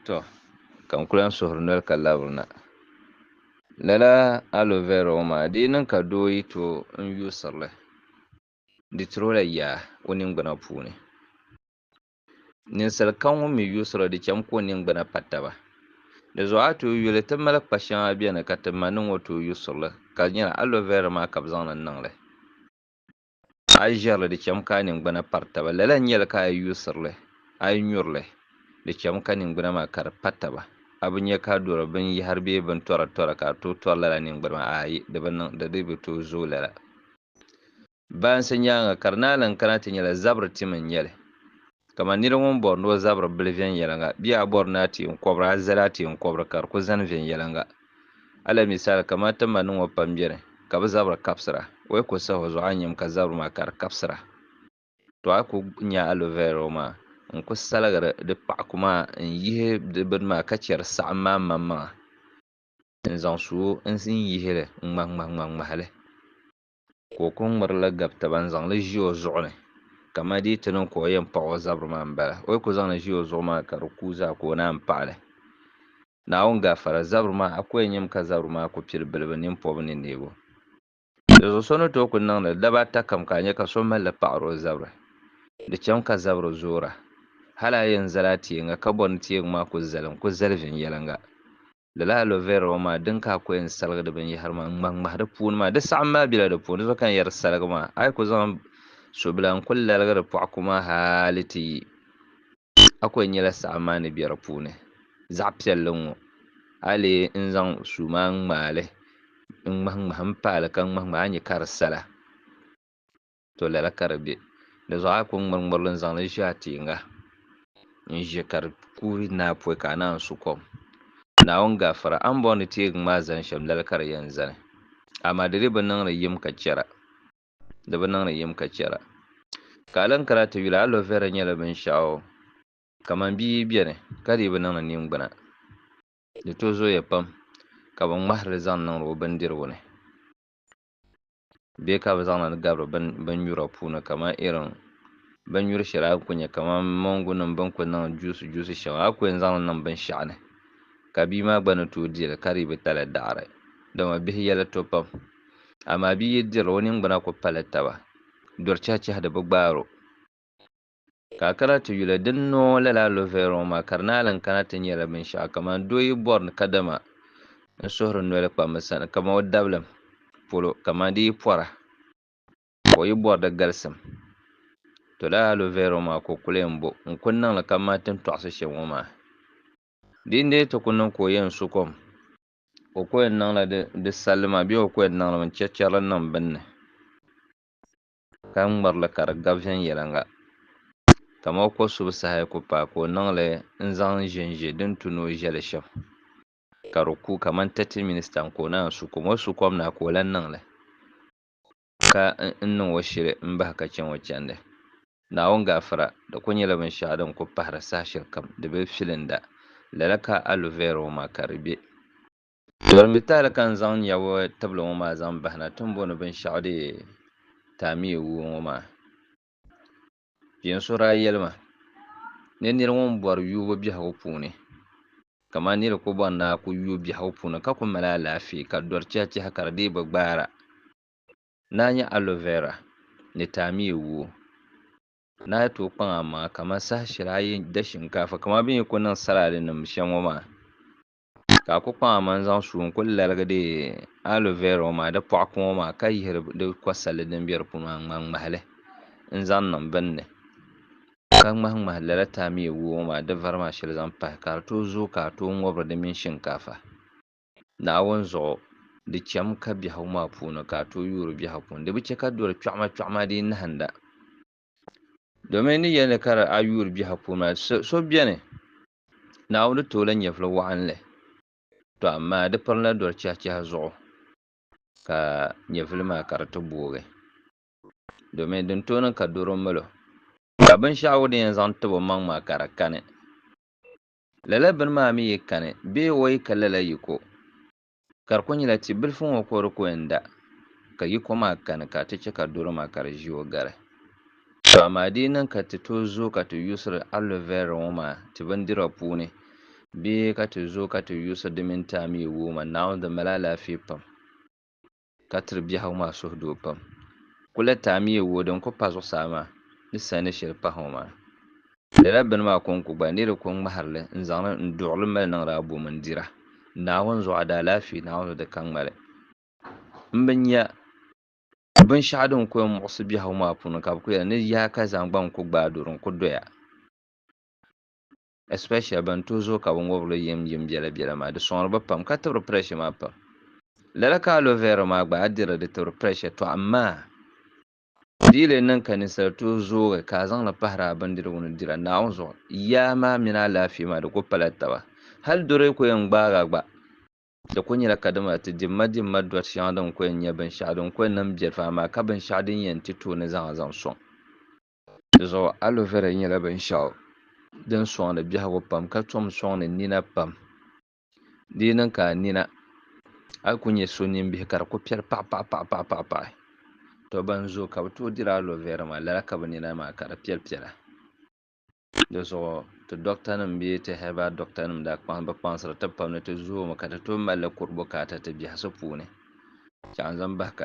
Tɔ! Ka n ku lan suhiri noli ka labiri na. Lala aloe vera ŋɔ maa di yi niŋ ka doo yi tooi n yuusiri li, di tiri o la yaa o ningbuna puuni. Ninsal kam ŋun mi yuusiri li di cham ka o ningbuna pa taba. Di zuɣu a tooi yuli ti mali kpa shɛŋa beni ka ti ma ni ŋɔ tooi yuusiri li ka di nyɛla aloe vera maa ka bɛ zaŋ li niŋ li. A yi ʒirili, di chɛmi ka a ningbuna pari taba. Lala n-nyɛ li ka a yi yuusiri li, a yi nyuri li, di chɛmi ka ningbuna maa ka di pa taba. A bi nya ka a dɔri binyɛhiri bee bintɔra tɔra ka a tooi tɔri lala ningbuna maa? Aayi, di bi niŋ. Di dii bi tooi zooi lala. Baansi nyaaŋa, ka di naanima kana ti nyɛla zabiri tim n-nyɛ li. Kaman nir ŋun bɔri ni o zabiri bili viɛnyɛliŋga bee a bɔri ni a ti n kɔbiri a zali a ti n kɔbiri ka di ku zani viɛnyɛliŋga. Alamisali, kaman a ti ma ni ŋɔ pam beni ka bɛ zabiri kabisira, o yi ku sahi o zuɣu a nyam ka zabiri maa ka di kabisira, tɔ a ku nya aloe vera o maŋa n-ku saligiri di paɣiku maa n-yihi di bini maa ka chɛ di saɣim maa mmaŋmaŋa n-zaŋ su o n-yihi li ŋmahiŋmahiŋmahi li. ka o kuli ŋmiri li gabi taba n-zaŋ li ʒi o zuɣu ni kamani di yi ti niŋ ka o yɛn paɣi o zabiri maa m-bala. O yi kuli zaŋ li ʒi o zuɣu maa ka di kuui zaa ka o naan paɣi li. Naawuni gafara, zabiri maa, a ku yɛn nyami ka zabiri maa ku pili bilibu, nimpɔbu ni neego. Dinzuɣu so ni tooi kuli niŋ li daba ata kam ka a nya ka so mali li paɣiri o zabiri, di chami ka zabiri zoora. Hal a yɛn zali a tieŋa ka bɔri ni tieŋ maa ku zalim, ku zali viɛnyɛliŋga. Lala aloe vera ŋɔ maa din ka a kɔhɛ n saligi di binyɛhiri maa n ŋmahi ŋmahi di puuni maa di saɣim maa bela di puuni di zuɣu ka n yɛri saligi maa a yi ku zaŋ sobila n kuli laligi di pɔɣu ku maa hali ti yi a ku yɛn nyɛla saɣim maa ni bɛ di puuni zaɣ piɛlli n ŋɔ a yi lee n zaŋ suu maa n ŋmaali n ŋmahi ŋmahi m paali ka ŋmahi ŋmahi a ni nya ka di sala. To lala ka di be. Di zuɣu a yi ku ŋmiri ŋmiri li n-zaŋ li ʒe a tiiŋa n-ʒe ka di kuui ni a pɔi ka a naan su kom. Naawuni gafara, a ni bɔŋ ni teegi ŋ maa zani shɛm lala ka di yɛn zani. Amaa di di bi niŋ ni yim ka chɛra. Di bi niŋ ni yim ka chɛra. Ka a lan kara ti yuli, aloe vera nyɛla binshɛɣu kaman bia yi beni ka di yi bi niŋ ni ningbuna, di to zooya pam ka bɛ ŋmahiri li zaŋ niŋdi o bindirigu ni. bɛ ka bɛ zaŋ na ti gabiri binnyura puuni kamani irin binnyuri shɛli a ni kuli nya kamani moongunima bɛ ni kuli niŋ juusi juusi shɛŋa a kuli yɛn zaŋ li niŋ binshɛɣu ni ka bia maa gba ni tooi di li ka di bi tali daɣiri dama bihi yɛli to pam amaa bia yi diri li o ningbuna kuli pali taba duri chɛhichɛhi di bi gbaari o. Ka a kana ti yuli, di ni niŋ o lala aloe vera ŋɔ maa ka di naai lan kana ti nyɛla binshɛɣu kamani doo yi bɔri ni kadama n suhiri noli kpambi sani kamani o dabilim polo kamani di yi pɔra ka o yi bɔri di galisim. To lala aloe vera ŋɔ maa ka o kuli yɛn bo n ku niŋ li kamani ti ni tɔɣisi shɛm ŋɔ maa. Di ni dii ti ku niŋ ka o yɛn su kom ka o ku yɛn niŋla di salli maa bee o ku yɛn niŋlimi n chɛchɛri li niŋ bini ni. ka ŋmiri li ka di gabi viɛnyɛliŋga. Kamao ko subu saha ku paai ka o niŋ li n-zaŋ ʒinʒi din tu ni o ʒe li shɛm, ka di ku kamani tɛti minista n-ka o naan su kom. O su kom na ka o lan niŋ li, ka n niŋ o shili m-bahi ka chɛ ŋɔ chandi. Naawuni gaafara, di ku nyɛla binshɛɣu din ku pahiri saha shɛlikam di be filinda. Lala ka a lu Vero ŋɔ maa ka di be. Tɔrimbi tahili ka n zaŋ nyɛbu tibili ŋɔ maa zaŋ bahina ti ni bo ni binshɛɣu deei Taamiya wuo ŋɔ maa. Kpeen so daa yɛli ma ni nir ŋun bɔri yuubu biɛhigu puuni kaman nir ku bɔri ni a ku yu biɛhigu puuni ka ku mali alaafee ka dɔri chɛhichɛhi ka di dii bi gbaara ni a nya aloe vera ni taamiya wuo ni a yi tooi kpaŋ amaŋa kaman saha shɛli a yi da shinkaafa kaman bɛ ni yi ku niŋ salaadinim shɛm ŋɔ maa. ka a ku kpaŋ a maŋ zaŋ suu n-ku laligi di aloe vera ŋɔ maa di pɔɣu kuŋ ŋɔ maa ka yihiri di kɔsalli din be di puuni maa n-ŋmahi ŋmahi li n-zaŋ niŋ bini ni ka ŋmahi ŋmahi lala taamiya wuhi ŋɔ maa di vari maa shɛli zaŋ pahi ka di tooi zooi ka a tooi ŋubiri di mini shinkaafa Naawuni zuɣu di cham ka biɛhigu maa puuni ka a tooi yuuri biɛhigu puuni di bi chɛ ka doli kpiɔɣima kpiɔɣima dii nahinda domin di yɛli ni ka a yuuri biɛhigu puuni maa so beni Naawuni tooi la nyɛvili wɔɣinli, tɔ amaa di pirina doli chɛhichɛhi zuɣu ka nyɛvili maa ka di ti boogi, domin din tooi niŋ ka doro mal o, ka binshɛɣu din yɛn zaŋ tib omaŋ maa ka di kani, lala bini maa mi yi kani bee o yi ka lala yiko. Ka di kul nyɛla ti bilifu ŋɔ ko di ku yɛn da, ka yi ko maa kani ka ti chɛ ka doro maa ka di ʒi o gari. Tɔ amaa di yi niŋ ka ti tooi zooi ka ti yuusiri aloe vera ŋɔ maa ti bindira puuni, bee ka ti zooi ka ti yuusiri di mini ti amii wuuma, Naawuni di mali alaafee pam. ka tiri biɛhigu maa suhudoo pam. Kuleta amiya wuo din ku pa zuɣusaa maa ni sani ni sheli pahi ŋɔ maa lala bini maa konko gba ni di ku ŋmahiri li n zaŋ li n duɣiri li mali niŋdi abo mini dira Naawuni zuɣu a daalaafee Naawuni zuɣu di ka ŋmali m bi nya binshɛɣu din ku yɛn muɣisi biɛhigu maa puuni ka bi ku yɛli ni yaaka zaŋ gba n ku gbaai duri n ku doya. especially ban tooi zooi ka binwobirili yim yim biɛla biɛla maa di soŋri ba pam ka tibiri pressure maa pam. Lala ka aloe vera maa gba a dirili di tibiri pressure tɔ amaa di yi lee niŋ ka ninsali tooi zoogi ka a zaŋli pahiri a bindirigu ni dira Naawuni zuɣu yaa maa mini alaafee maa di ku pala taba. Hali doro yi ku yɛn gbaagi a gba di ku nyɛla kadama a ti dimma dimma dɔri shɛŋa din ku yɛn nyɛ binshɛɣu din ku yɛn niŋ biɛlifu amaa ka binshɛɣu din yɛn ti tooi ni zaŋ a zaŋ soŋ Dinzuɣu aloe vera nyɛla binshaɣu din soŋdi biɛhigu pam ka tom soŋdi nina pam di yi niŋ ka a nina a yi ku nyɛ so nimbihi ka di ku piɛri paɣa paɣa paɣa paɣa to ban zooi ka bi tooi diri aloe vera maa lala ka bi nina maa ka di piɛli piɛla dinzuɣu ti doɣata nim bee ti herbal doɣata nim daa kpaŋ bi kpaŋsiri ti pam ni ti zoomi ka ti tooi malili kuri bukaata ti biɛhasi puuni ka n zaŋ bahi ka